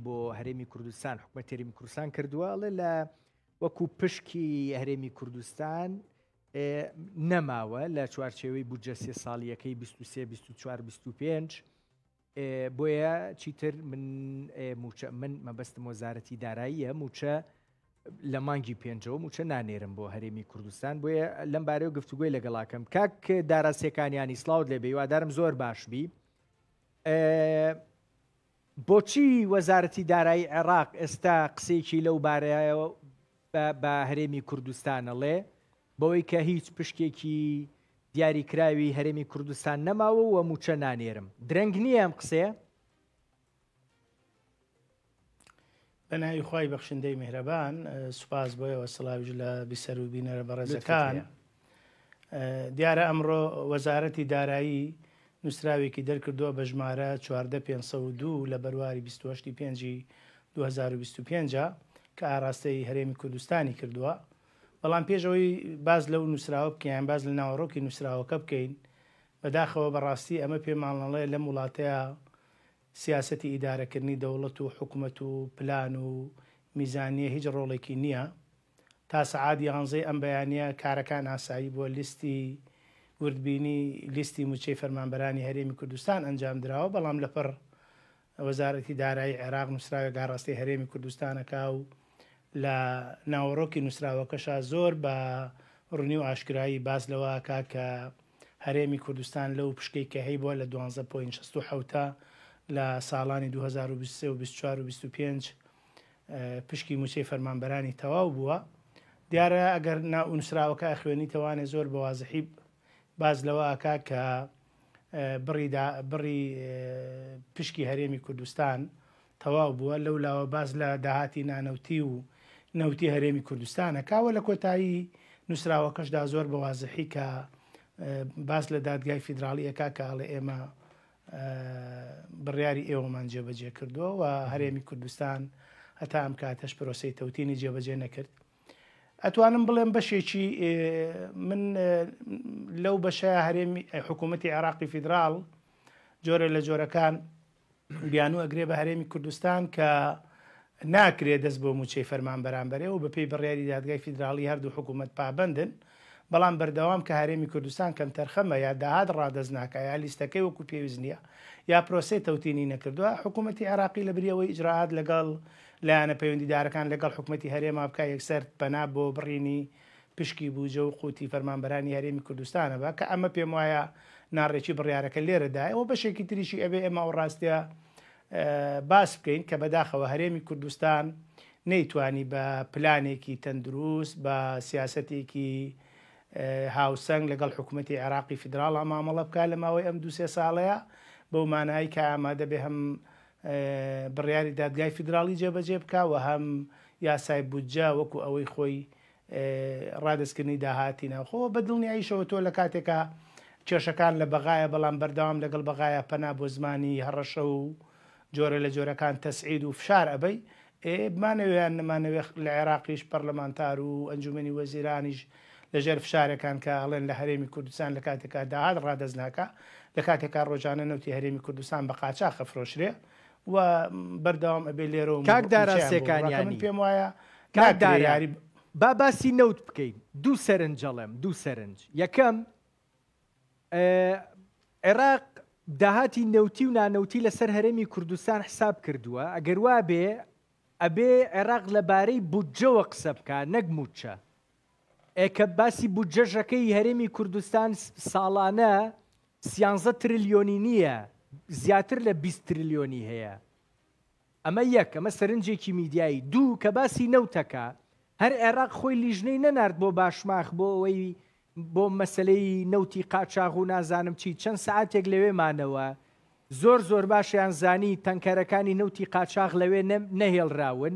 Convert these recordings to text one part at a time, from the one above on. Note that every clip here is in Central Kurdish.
بۆ هەرێمی کوردستان حکومە تێریمی کوردستان کردووە ئەڵێ لە وەکو پشکی هەرێمی کوردستان نەماوە لە چوارچێوەی بودجە سێ ساڵیەکەی 23 24 25 بۆیە چیتر من موچە من مەبەستم وەزارەتی داراییە موچە لە مانگی پێنجەوە موچە نانێرم بۆ هەرێمی کوردستان بۆیە لەم بارەیە گفتوگوی لەگەڵاکەم کاک داراستەکانیانی سلااوت لێ بێوادارم زۆر باش بی بۆچی وەزارەتی دارایی عێراق ئێستا قسەیەکی لەو بارەیەوە بە هەرێمی کوردستان ئەڵێ، بەوەی کە هیچ پشکێکی دیاریکراوی هەرێمی کوردستان نەماوە و مووچە نانێرم، درەنگ نییە ئەم قسەیە؟ بە ناوی خوای بەخشندەی میهرەبان سوپاس بۆیەوە سڵاویش لە بیسەر و بینەرە بەڕێزەکان دیارە ئەمڕۆ وەزارەتی دارایی نووسراوێکی دەرکردووە بە ژمارە 14502 لە بەرواری 28 پێنجی 2025 کە ئاراستەی هەرێمی کوردستانی کردووە بەڵام پێشەوەی باز لەو نووسراوە بکەیان باز لە ناوەڕۆکی نووسراوەکە بکەین بەداخەوە بەڕاستی ئەمە پێمانڵەڵەیە لەم وڵاتەیە سیاسەتی ئیدارەکردنی دەوڵەت و حکومەت و پلان و میزانیە هیچ ڕۆڵێکی نیە. تا سەعات یانزەی ئەم بەیانیە کارەکان ئاسایی بوە، لیستی وردبینی لیستی موچەی فەرمانبەرانی هەرێمی کوردستان ئەنجام دراوە، بەڵام لەپڕ وەزارەتی دارایی عێراق نوسراوێک ئاڕاستەی هەرێمی کوردستان ئەکا و لە ناوەڕۆکی نوسراوەکەشا زۆر بە ڕونی و ئاشکرایی باس لەوە ئەکا کە هەرێمی کوردستان لەو پشکەی کە هەیبوە لە دوانزە پۆینت شەست و حەوت لە ساڵانی دوو هەزار و بیست و سێ و بیست و چوار و بیست و پێنج پشکی موچەی فەرمانبەرانی تەواو بووە دیارە ئەگەر ناونوسراوەکە ئەخوێنیتەوانێ زۆر بەوازحی باز لەوە ئاکا کە بڕی بڕی پشکی هەرێمی کوردستان تەواو بووە، لەو لاوە باس لە داهاتی نانەوتی و نەوتی هەرێمی کوردستان ئەکا و لە کۆتایی نووسراوەکەشدا زۆر بە وازحی کە باس لە دادگای فیدراڵی ئەکا کە ئەڵێ ئێمە بڕیاری ئێوەمان جێبەجێ کردووە و هەرێمی کوردستان هەتا ئەم کاتەش پرۆسی تەوتینی جێبەجێ نەکرد ئەتوانم بڵێم بەشێکی من لەو بەشە هەرێمی حکوومەتتی عێراقی فیدرال جۆرە لە جۆرەکان بیانوو ئەگرێ بە هەرێمی کوردستان کە ناکرێ دەست بۆ مووچەی فەرمانبەران بەرێ و بەپێی بڕیاری دادگای فیدراڵی هەردوو حکوومەت پابەندن، بەڵام بەردەوام کە هەرێمی کوردستان کەمتەرخەمە یا داهات ڕادەست ناکا یا لیستەکەی وەکوو پێویست نییە یا پرۆسەی تەوتینی نەکردووە، حکوومەتی عێراقی لە بری ئەوەی ئیجرائات لەگەڵ لایەنە پەیوەندیدارەکان لەگەڵ حکوومەتی هەرێما بکا یەکسەر پەنا بۆ بڕینی پشکی بوجە و قوتی فەرمانبەرانی هەرێمی کوردستانە بە کە ئەمە پێم وایە ناڕێکی بڕیارەکە لێرە دایە وە بەشێکی تریشی ئەبێ ئێمە ئەو ڕاستیە باس بکەین کە بەداخەوە هەرێمی کوردستان نەیتوانی بە پلانێکی تەندروست بە سیاستێکی هاوسەنگ لەگەڵ حکوومەتتی عێراقی فیدراڵ ئامامەڵە بکە لە ماوەی ئەم دوسێ ساڵەیە بەو مانایی کە ئامادە بێ هەم بڕیاری دادگای فیدراڵی جێبەجێ بکە و هەم یاسای بودجە وەکو ئەوەی خۆی ڕادەستکردنی داهاتی ناوخۆ و بە دڵنیاییشەوە تۆ لە کاتێکا کێشەکان لە بەغایە بەڵام بەردەوام لەگەڵ بەغایە پەنا بۆ زمانی هەڕەشە و جۆرە لە جۆرەکان تەسعید و فشار ئەبەی ئێ بمانەوێ یان نەمانەوێ لە عێراقیش پەڕلەمانتار و ئەنجومەنی وەزیرانیش لە ژێر فشارێکان کە ئەڵێن لە هەرێمی کوردستان لە کاتێکا داهات ڕادەست ناکا لە کاتێکا ڕۆژانە نەوتی هەرێمی کوردستان بە قاچاخ ئەفرۆشرێ و بەردەوام ئەبێ لێرەوە کاک دارا سێکانیانی پێم وایە کاک داریاری با باسی نەوت بکەین دوو سەرنجەڵێم دوو سەرنج یەکەم عێراق داهاتی نەوتی و نانەوتی لەسەر هەرێمی کوردستان حساب کردووە ئەگەر وا بێ ئەبێ عێراق لەبارەی بودجەوە قسە بکە نەک موچە ئێ کە باسی بودجە ژەکە ی هەرێمی کوردستان ساڵانە سیانزە ترلیۆنی نیە زیاتر لە بیست ترلیۆنی هەیە ئەمە یەک ئەمە سەرنجێکی میدیایی دوو کە باسی نەوتەکە هەر عێراق خۆی لیژنەی نەنارد بۆ باشماخ بۆ ئەوەی بۆ مەسلەی نەوتی قاچاغ و نازانم چی چەند سعاتێک لەوێ مانەوە زۆر زۆر باشیان زانی تەنکەرەکانی نەوتی قاچاغ لەوێ نەهێڵراون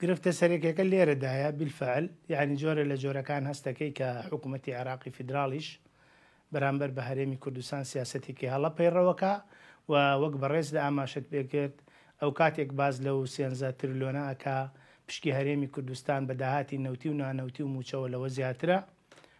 گرفتە سەرەکیەکە لێرەدایە، بالفعل یانی جۆرە لە جۆرەکان هەست دەکەی کە حکومەتی عێراقی فیدراڵیش بەرامبەر بە هەرێمی کوردستان سیاسەتێکی هەڵە پەیڕەوەکا و وەک بەڕێزت ئاماشەت پێکرد ئەوکاتێک باس لەو سێنزە ترلۆنە ئەکا پشکی هەرێمی کوردستان بە داهاتی نەوتی و نانەوتی و موچەوە لەوە زیاترە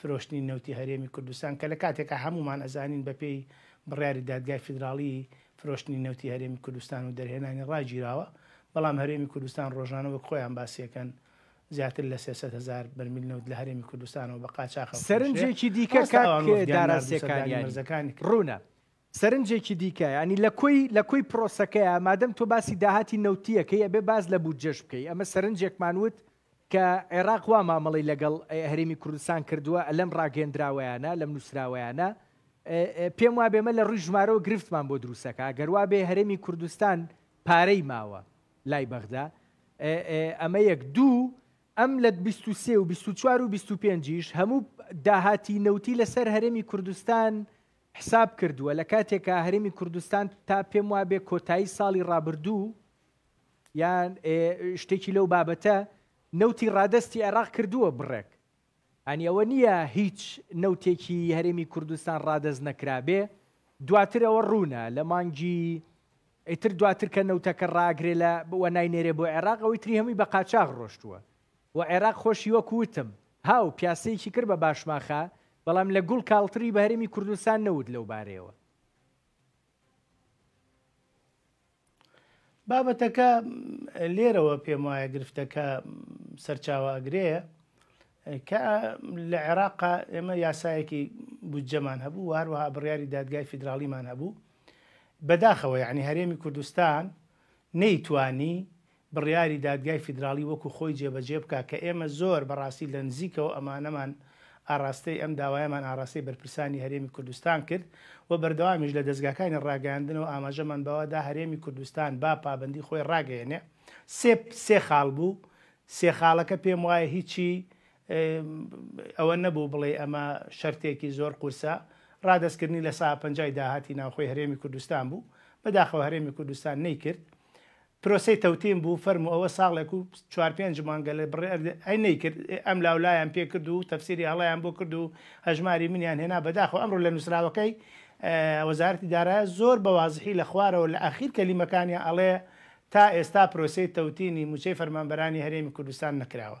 فرۆشتنی نەوتی هەرێمی کوردستان کە لە کاتێکا هەموومان ئەزانین بە پێی بڕیاری دادگای فیدراڵی فرۆشتنی نەوتی هەرێمی کوردستان و دەرهێنانی ڕاگیراوە بەڵام هەرێمی کوردستان ڕۆژانە وەک خۆیان باسیەکەن زیاتر لە سێ سەد هەزار بەرمیل نەوت لە هەرێمی کوردستانەوە بە قاچاخ ئەفرۆشرێ سەرنجێکی دیکە ڕاستە کاک ئەوان وەفدیان دارا ناردو سەردانی سێکانیانی مەرزەکانی کرد. ڕوونە سەرنجێکی دیکە یانی لە کۆی لە کۆی پرۆسەکەیە مادەم تۆ باسی داهاتی نەوتییەکەی ئەبێ باس لە بودجەش بکەی ئەمە سەرنجێکمان وت کە عێراق وا مامەڵەی لەگەڵ هەرێمی کوردستان کردووە لەم ڕاگەیەندراوەیانە، لەم نووسراوەیانە، پێم وابێ ئێمە لە ڕووی ژمارەوە گرفتمان بۆ دروست ئەکا، ئەگەر وا بێ هەرێمی کوردستان پارەی ماوە لای بەغدا، ئەمە یەک، دوو، ئەم لە بیست و سێ و بیست و چوار و بیست و پێنج یش هەموو داهاتی نەوتی لە سەر هەرێمی کوردستان حساب کردووە، لە کاتێکا هەرێمی کوردستان تا پێم وابێ کۆتایی ساڵی ڕابردوو، یان شتێکی لەو بابەتە نەوتی ڕادستی عێراق کردووە بڕێک ئەنی ئەوە نییە هیچ نەوتێکی هەرێمی کوردستان ڕادەست نەکرابێ دواتر ئەوە ڕوونە لە مانگی ئیتر دواتر کە نەوتەکە ڕاگرێ لە بووە ناینێرێ بۆ عێراق ئەوەی تری هەمووی بە قاچاغ ڕۆشتووە و عێراق خۆشی وەکوتم هاو پیاسەیەکی کرد بە باشماخە بەڵام لە گوڵ کاڵتری بە هەرێمی کوردستان نەوت لەو بارەیەوە بابەتەکە لێرەوە پێم وایە گرفتەکە سەرچاوە ئەگرەیە کە لە عێراقا ئێمە یاسایەکی بودجەمان هەبوو هەروەها بڕیاری دادگای فیدراالیمان هەبوو بەداخەوە یعنی هەرێمی کوردستان نەیتوانی بڕیاری دادگای فیدراڵی وەکو خۆی جێبەجێ بکا کە ئێمە زۆر بەڕاستی لە نزیکەوە ئەمانەمان ئاڕاستەی ئەم داوایەمان ئاڕاستەی بەرپرسانی هەرێمی کوردستان کرد و بەردەوامیش لە دەزگاکانی ڕاگەیاندنەوە ئاماژەمان بەوە دا هەرێمی کوردستان با پابەندی خۆی ڕاگەیەنێ سێ سێ خاڵ بوو سێ خاڵەکە پێم وایە هیچی ئەوە نەبوو بڵێی ئەمە شەرتێکی زۆر قورسە ڕادەست کردنی لە ساپەنجای داهاتی ناوخۆی هەرێمی کوردستان بوو بەداخەوە هەرێمی کوردستان نەیکرد پرۆسەی تەوتین بوو فەرموو ئەوە ساڵێک و چوار پێنج مانگە لە بڕێ ئەرد ئەی نەیکرد ئێ ئەم لاو لایان پێ کرد و تەفسیری هەڵەیان بۆ کرد و هەژماری منیان هێنا بەداخەوە ئەمڕۆ لە نووسراوەکەی وەزارەتی دارایە زۆر بە وازحی لە خوارەوە لە ئاخیر کەلیمەکانیا ئەڵێ تا ئێستا پرۆسەی تەوتینی مووچەی فەرمانبەرانی هەرێمی کوردستان نەکراوە.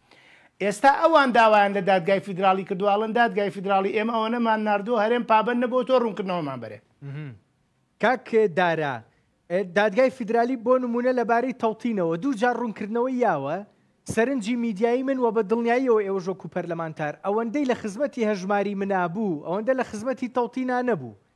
ئێستا ئەوان داوایان لە دادگای فیدراڵی کردوە ئەڵێن دادگای فیدراڵی ئێمە ئەوەنەمان ناردوە هەرێم پابەند نەبوە تۆ ڕونکردنەوەمان بەرێت. کاک دارا دادگای فیدرالی بۆ نمونە لە بارەی تەوتینەوە دوو جار ڕونکردنەوەی یاوە، سەرنجی میدیایی من وە بە دڵنیاییەوە ئێوەش وەکو پەرلەمانتار ئەوەندەی لە خزمەتی هەژماری منا بوو ئەوەندە لە خزمەتی تەوتینا نەبوو،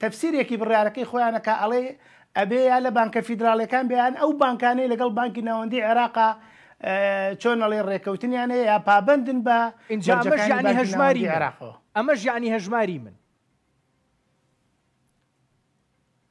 تەفسیرێکی بڕیارەکەی خۆیانە کە ئەڵێ ئەبێ یا لە بانکە فیدراڵیەکان بێیان ئەو بانکانەی لەگەڵ بانکی ناوەندی عێراقا چۆن ئەڵێ ڕێکەوتنیان هەیە یا پابندن بە ئینجامەژانی هەژماری عێراقەوە ئەمەش یعنی هەژماری من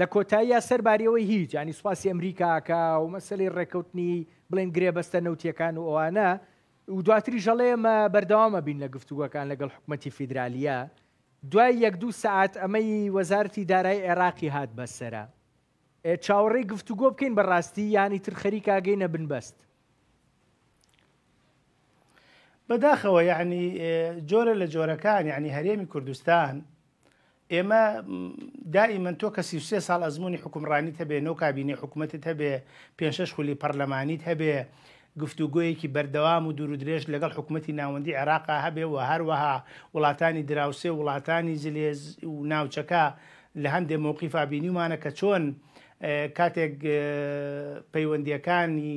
لە کۆتاییا سەر باریەوەی هیچ یانی سوپاسی ئەمریکا ئەکا و مەسەلەی ڕێکەوتنی بڵێن گرێبەستە نەوتیەکان و ئەوانە و دواتریش ئەڵێ ئێمە بەردەوام ئەبین لە گفتوگۆکان لەگەڵ حکومەتی فیدرالییە دوای یەک دوو سەعات ئەمەی وەزارەتی دارای عێراقی هات بەسەرە ئێ چاوەڕێی گفتوگۆ بکەین بەڕاستی یانی تر خەریک ئاگەینە بنبەست بەداخەوە یعنی جۆرە لە جۆرەکان یعنی هەرێمی کوردستان ئێمە دائیمەن تۆ کە سیسێ ساڵ ئەزمموی حکومڕانی هەبێ نۆ کابینی حکوومەتت هەبێ پێشش خولی پەرلەمانیت هەبێ گفتوگویەکی بەردەوام و دوور درێژ لەگەڵ حکوومەتتی ناوەندی عێراقا هەبێ و هەروەها وڵاتانی دراوسێ وڵاتانی زلێز و ناوچەکە لە هەندێ مووقیفا بینیمانە کە چۆن کاتێک پەیوەندیەکانی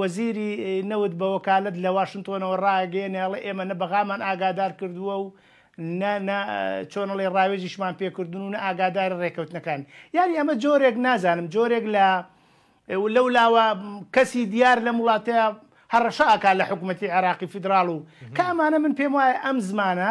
وەزیری نەوت بە وەکالەت لە واشنتۆنەوە ڕایگەیەنێ ئەڵێ ئێمە نە بەغامان ئاگادار کردووە و نە نە چۆن ئەڵێ ڕاوێژیشمان پێکردون و نە ئاگاداری ڕێکەوتنەکان یانی ئەمە جۆرێک نازانم جۆرێک لە لەو لاوە کەسی دیار لەم وڵاتەیە هەڕەشە ئەکا لە حکوومەتی عێراقی فیدراڵ و کە ئەمانە من پێم وایە ئەم زمانە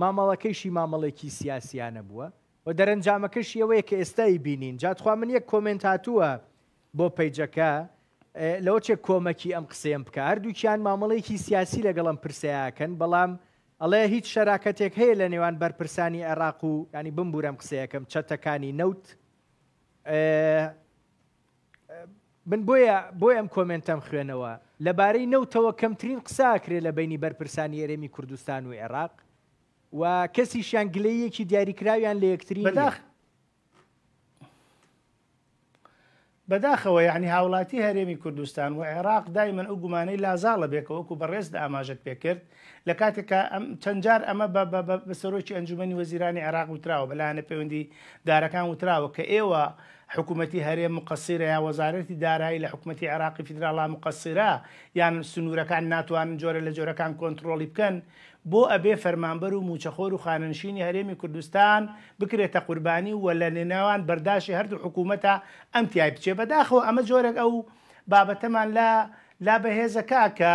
مامەڵەکەیشی مامەڵەیەکی سیاسیانە بووە و دەرەنجامەکەشی ئەوەیە کە ئێستا ئیبینین جا تخوا من یەک کۆمێنت هاتووە بۆ پەیجەکە لەوە چێ کۆمەکی ئەم قسەیەم بکە هەردووکیان مامەڵەیەکی سیاسی لەگەڵ ئەم پرسەیەکەن بەڵام ئەڵێ هیچ شەراکەتێک هەیە لە نێوان بەرپرسانی عێراق و ینی بمبورەم قسەیەکەم چەتەکانی نەوت من بۆیە بۆی ئەم کۆمێنتەم خوێنەوە، لەبارەی نەوتەوە کەمترین قسە ئەکرێ لە بەینی بەرپرسانی هەرێمی کوردستان و عێراق و کەسیشیان گلەییەکی دیاریکراویان لە یەکتری بەداخ بەداخەوە یعنی هاوڵاتی هەرێمی کوردستان و عێراق دایمەن ئەو گومانەی لازاڵە بێکەوەکو بەڕێز ئاماژت پێکرد لە کاتێک کە چەند جار ئەمە بە سەرۆکی ئەنجومەنی وەزیرانی عێراق وتراوە بە لایەنە پەیوەندی دارەکان وتراوە کە ئێوە حکوومەتی هەرێم مقەسیرە یا وەزارەتی دارایی لە حکوومەتی عێراقی فیدراڵا مقەسیرە یان سنوورەکان ناتوانن جۆرە لە جۆرەکان کۆنتترۆڵی بکەن بۆ ئەبێ فەرمانبەر و موچەخۆر و خانەنشینی هەرێمی کوردستان بکرێتە قوربانی و لە نێناوان بەرداشی هەردوو حکوومەتە ئەم تای بچێ بەداخەوە ئەمە جۆرێک ئەو بابەتەمان لە لا بەهێزەکە کە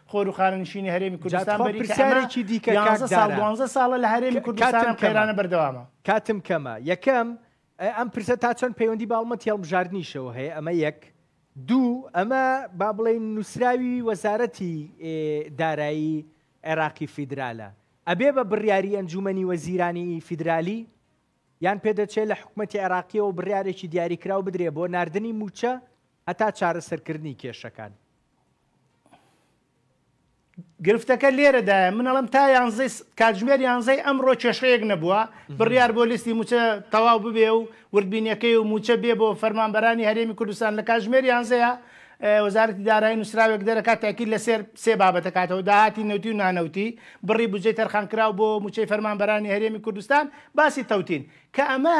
خۆر و خانەنشینی هەرێمی کوردستان جاتخوا بەریتە ئەمە پرسیارێکی دیکە کاک 11 ساڵ دارا. 12 ساڵە لە هەرێمی ک- کوردستان کاتم ئەم کەمە. قەیرانە بەردەوامە کاتم کەمە یەکەم ئە، ئەم پرسە تا چەند پەیوەندی بە هەڵمەتی هەڵبژاردنیشەوە هەیە ئەمە یەک دوو ئەمە با بڵێین نووسراوی وەزارەتی ئێ، دارایی عێراقی فیدرالە ئەبێ بە بڕیاری ئەنجوومەنی وەزیرانی فیدرالی یان پێدەچێت لە حکوومەتی عێراقیەوە بڕیارێکی دیاریکراو بدرێ بۆ ناردنی مووچە هەتا چارەسەرکردنی کێشەکان گرفتەکە لێرەدایە من ئەڵم تا یانزەی کاتژمێر یانزەی ئەمڕۆ کێشەیەک نەبووە بڕیار بۆ لیستی موچە تەواو ببێ و وردبینەکەی و موچە بێ بۆ فەرمانبەرانی هەرێمی کوردستان لە کاتژمێر یانزەیە وەزارەتی دارایی نووسراوێک دەرەکات تاکی لەسەر سێ بابەتەکاتەوە داهاتی نەوتی و نانەوتی بڕی بجێ تەرخانکراو بۆ موچەی فەرمانبەرانی هەرێمی کوردستان باسی تەوتین کە ئەمە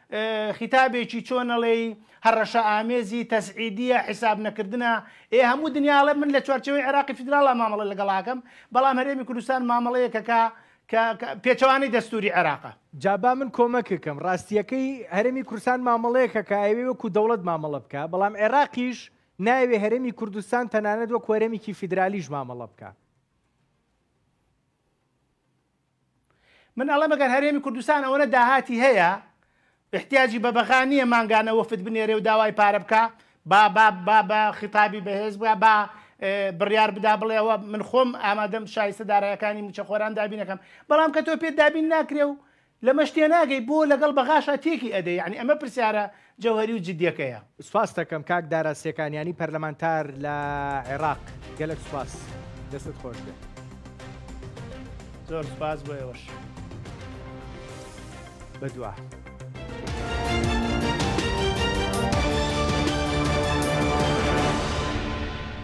خیتابێکی چۆن ئەڵێی هەڕەشە ئامێزی تەسعیدیە حیساب نەکردنە ئێ هەموو دنیا ئەڵێ من لە چوارچێوەی عێراقی فیدراڵا مامەڵە لەگەڵ ئاکەم بەڵام هەرێمی کوردستان مامەڵەیەکە کە کە پێچەوانەی دەستووری عێراقە. جا با من کۆمەکت کەم ڕاستییەکەی هەرێمی کوردستان مامەڵەیەکە کە ئەیەوێ وەکوو دەوڵەت مامەڵە بکا بەڵام عێراقیش نایەوێ هەرێمی کوردستان تەنانەت وەکوو هەرێمێکی فیدرالیش مامەڵە بکا. من ئەڵێم ئەگەر هەرێمی کوردستان ئەوەنە داهاتی هەیە ئیحتیاجی بە بەغا نیە مانگانە وەفد بنێرێ و داوای پارە بکا با با با بە خیتابی بەهێز بە با بڕیار بدا بڵێ ئەوە من خۆم ئامادەم شایستە دارایەکانی موچەخۆران دابین نەکەم بەڵام کە تۆ پێت دابین ناکرێ و لەمەش تێناگەی بۆ لەگەڵ بەغاشا تێکی ئەدەی یعنی ئەمە پرسیارە جەوهەری و جدیەکەیە. سوپاستەکەم کاک دارا سێکانیانی پەرلەمانتار لە عێراق گەلەک سوپاس دەستت خۆش بێت. زۆر سوپاس بۆ ئێوەش. بەدوا.